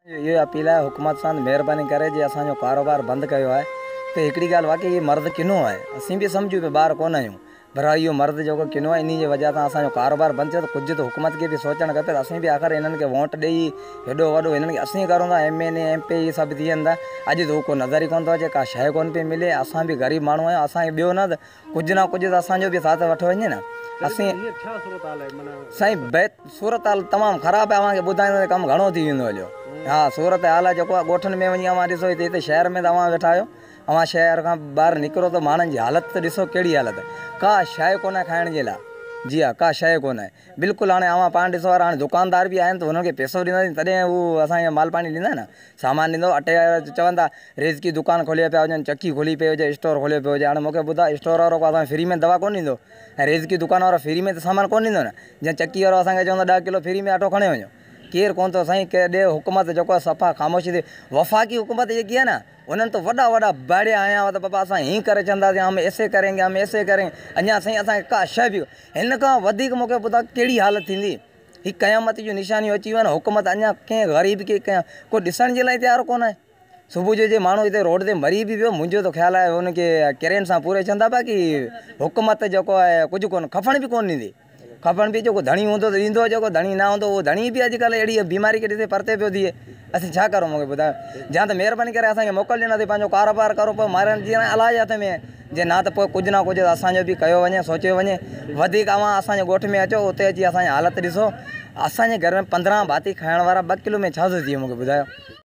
منهنجي اهو ئي اپيل آهي حڪومت سان ته مهرباني ڪري جي اسان جو ڪاروبار بند ڪيو آهي ته هڪڙي ڳالهه واقعي هي مرد ڪنو آهي اسين به سمجهون پيا ٻار ڪونه آهيون پر ها اهو مرد جيڪو ڪنو آهي انهي جي وجهه سان اسان جو ڪاروبار بند ٿيو ته ڪجهه ته حڪومت کي به سوچڻ کپي ته اسين به آخر هنن کي وونٽ ڏئي هيڏو وڏو هنن کي اسين ڪرون ٿا M N A M P A سڀ ٿي وڃن ٿا اڄ ته هو ڪو نظر ئي ڪونه ٿو اچي ڪا شيء ڪونه پئي ملي اسان به غريب ماڻهو آهيون اسان کي ڏيو نه ته ڪجهه نه ڪجهه ته اسان جو به ساٿ وٺو وڃي نه اسين هينئر ڇا صورتحال آهي معنيٰ سائين بيت صورتحال تمام خراب آهي اوهان کي ٻڌائيندو ته ڪم گهڻو ٿي ويندو هليو ها صورتحال جيڪو آهي ڳوٺن ۾ وڃي اوهان ڏسو هتي هتي شهر ۾ ته اوهان ويٺا آهيو اوهان شهر کان ٻاهر نڪرو ته ماڻهن جي حالت ته ڏسو ڪهڙي حالت ڪا شايء ڪونه کائڻ جي لاء جي ها ڪا شايء ڪونه بلڪل هاڻي اوهان پاڻ ڏسو هاڻي دڪاندار به آهن ته هنن کي پيسو ڏينداسين تڏهن هو اسان کي مال پاڻي ڏيندا نه سامان ڏيندو اٽي وارا چون ٿا رزقي دڪان کوليو پيا هجن چڪي کولي پئي هجي اسٽور کوليو پيو هجي هاڻي مونکي ٻڌاء اسٽور وارو ڪو اسانکي فري ۾ دوا ڪونه ڏيندو ۽ رزقي دڪان وارو فري ۾ ته سامان ڪونه ڏيندو نه جيئن چڪي وارو اسانکي چوندو ڏهه ڪلو فري ۾ اٽو کڻي وڃو ڪير ڪونه ٿو سائين ڪير ڏي حڪومت جيڪو آهي صفا خاموشي تي وفاقي حڪومت جيڪي آهي نه انهن ته وڏا وڏا ڀاڙيا هنيا هئا ته بابا اسان هيئن ڪري ڇڏنداسين هم ايسي ڪرينگي هم ايسي ڪرينگي اڃا سائين اسانکي ڪا شي به هن کان وڌيڪ مونکي ٻڌاء ڪهڙي حالت ٿيندي هي قيامت جون نشانيون اچي ويون آهن حڪومت اڃا ڪنهن غريب کي ڪنهن ڪو ڏسڻ جي لاء تيار ڪونه آهي صبح جو جي ماڻهو هتي روڊ تي مري به ويو منهنجو ته خيال آهي ان کي ڪرين سان پوري چوندا پيا ڪي حڪومت جيڪو آهي ڪجهه ڪونه کفڻ به ڪونه ڏيندي کفڻ به جيڪو ڌڻي هوندو ته ڏيندو جيڪو ڌڻي نه هوندو هو ڌڻي به اڄڪلهه اهڙي بيماري کي ڏسي پرتي پيو ٿئي اسين ڇا ڪرون مون کي ٻڌايو يا ته مهرباني ڪري اسان کي موڪل ڏيو نه ته پنهنجو ڪاروبار ڪرو پر مارڻ جي الاج هٿ ۾ جي نه ته پوء ڪجهه نه ڪجهه ته اسان جو به ڪيو وڃي، سوچيو وڃي. وڌيڪ اوهان اسان جي ڳوٺ ۾ اچو، اتي اچي اسان جي حالت ڏسو. اسان جي گهر ۾ پندرهن ڀاتي کائڻ وارا ٻه ڪلو ۾ ڇا ٿو ٿئي مون کي ٻڌايو.